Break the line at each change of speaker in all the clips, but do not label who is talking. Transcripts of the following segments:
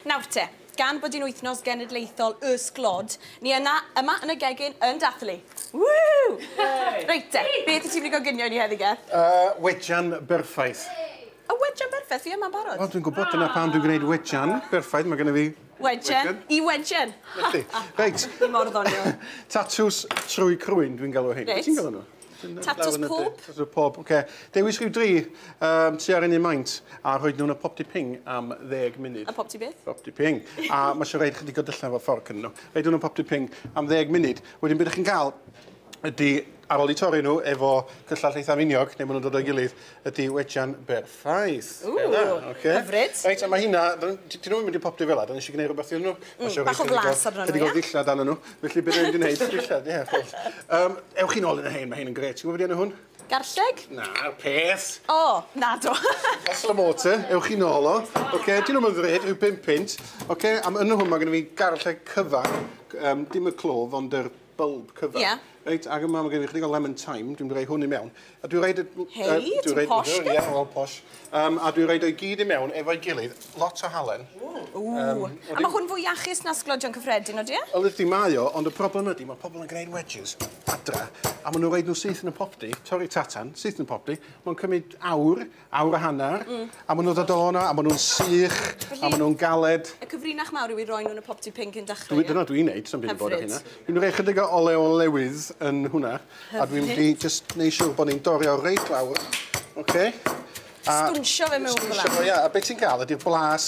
Nawr te, gan bod hi'n Wythnos Genedlaethol y Sglod, ni yna, yma yn y gegin yn dathlu! Woo! Reit te, beth wyt ti'n mynd i goginio i ni heddi, Geth? Y wejan berffaith. Y wejan berffaith? Fi yma'n barod. Wel, dwi'n gwybod, dyna pam dwi'n gwneud wejan berffaith, mae gennyf fi... Wejen i wejen! Reit. Fi mor ddoniol. Tatws trwy crwyn, dwi'n galw rhein. Reit. Wyt ti'n galw nhw? Tatws pob. Tatws pob, oce. Okay. Dewis rhyw dri um, tu ar un un maint a rhoi nhw'n y popty ping am ddeg munud. Y popty beth? Popty ping. a mae eisiau rhaid chydig o dyllen fo ffordd cyn nhw. Rhaid nhw'n y popty ping am ddeg munud. Wedyn beth ydych chi'n cael ydy ar ôl i torri nhw efo cyllall eitha miniog, neu maen nhw'n dod o'i gilydd, ydi wejan berffaith. Ww, Bela, ocê. Hyfryd. Reit, a ma' hynna, d- n- d- 'dyn nw 'im wedi poptu fela, 'dan ni isio gneud rwbeth iddyn nw. Hmm, Pasio rei bach o chydig flas arnyn nw, ie? chydig o ddillad arnyn nw, felly be' 'dan ni mynd i neud, dillad, ie, ffwrdd. Yym, ewch chi nôl yn y rhein, ma' rhein yn grêt. Ti gwbo be' 'di enw hwn? Garlleg? Na, peth! O, nadw. Pesl y Mortar, ewch chi nôl o. Ocê, 'dyn nw'm yn ddrud, rhyw bump punt. Ocê, a ma' yn y hwn ma' gynno fi garlleg cyfan, g- yym, dim y clwf, ond yr bulb cover. Yeah. Reit, ac yma mae gen i chydig o lemon thyme, dwi'n rhoi hwn i mewn. A dwi'n rhoi... Hei, uh, ti'n rhaid, posh gyd? Ie, wel, posh. Um, a dwi'n rhoi o'i gyd i mewn efo'i gilydd, lot o halen. Ww. Um, a mae hwn fwy iachus na sglodion cyffredin, o dia? Wel, ydy mae o, ond y problem ydy, mae pobl yn gwneud wedges adra, a maen nhw'n rhaid nhw syth yn y popdi, torri tatan, syth yn y popdi, mae'n cymryd awr, awr a hanner. Mm. A ma' nw'n dod o 'na a ma' nw'n sych a ma' nw'n galed. Y cyfrinach mawr yw i roi nhw yn y popty pink cyn dachre, ie? Dwi... Dyna dwi'n neud, sa'm byd yn bod â hynna. Hyfryd. Dwi'n roi ychydig o olew olewydd yn hwnna. Hyfryd. A dwi'n mynd i jyst neu' siŵr bo' ni'n dorri o reit lawr. Oce? A... Sgwnsio fe mewn fel 'a. Sgwnsio fo ia a be' ti'n ga'l ydi'r blas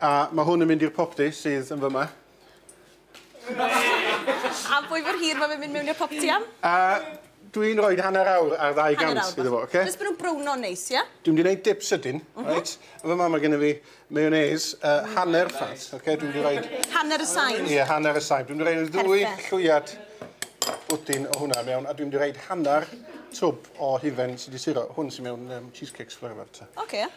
A mae hwn yn mynd i'r popty sydd yn fyma. Am pwy mor hir mae fe'n mynd mewn i'r popty am? A dwi'n rhoi hanner awr ar ddau gant iddo fo, oce? Jyst bod nhw'n browno'n neis, ia? Dwi'n mynd i wneud dip sydyn, reit? Yn fyma mae gen i fi mayonnaise, uh, hanner ffat, oce? Dwi'n mynd i roed... Hanner y sain? Ie, hanner y sain. Dwi'n mynd i roed ddwy llwyad bwtyn o hwnna mewn, a dwi'n mynd i roed hanner twb o hufen sydd wedi suro. Hwn sy'n mewn um, cheesecakes forever, ta. Oce.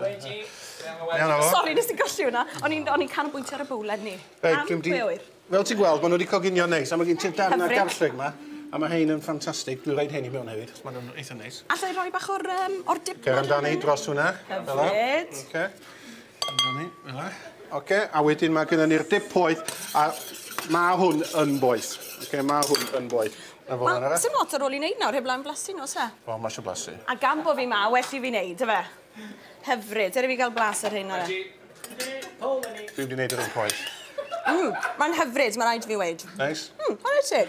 Wedi. Sori, nes i golli hwnna. O'n i'n o'n i'n canolbwyntio ar y bowlen ni. Reit, dwi'n di... Fel ti'n gweld, maen nhw wedi coginio neis, a mae gen ti'r darn ar garlleg yma, a mae hein yn ffantastig. Dwi'n rhaid hein i mewn hefyd, maen nhw'n eitha neis. Alla i roi bach o'r, um, o'r dip? Cer amdani dros hwnna. Hyfryd. Oce. Amdani, fel e. Oce, a wedyn mae gennym ni'r dip poeth, a mae hwn yn boeth. Oce, mae hwn yn boeth. Na fo arall. Sim lot ar ôl i neud nawr heb lan blasu n'w o's e? O ma isio blasu. A gan bo fi ma well i fi neud yfe? Hyfryd. Dere fi ga'l blas ar rheina de. Dwi 'eb 'di neud yr un pwaith. Mm ma'n hyfryd ma raid fi weud. Neis? Mm chware teg.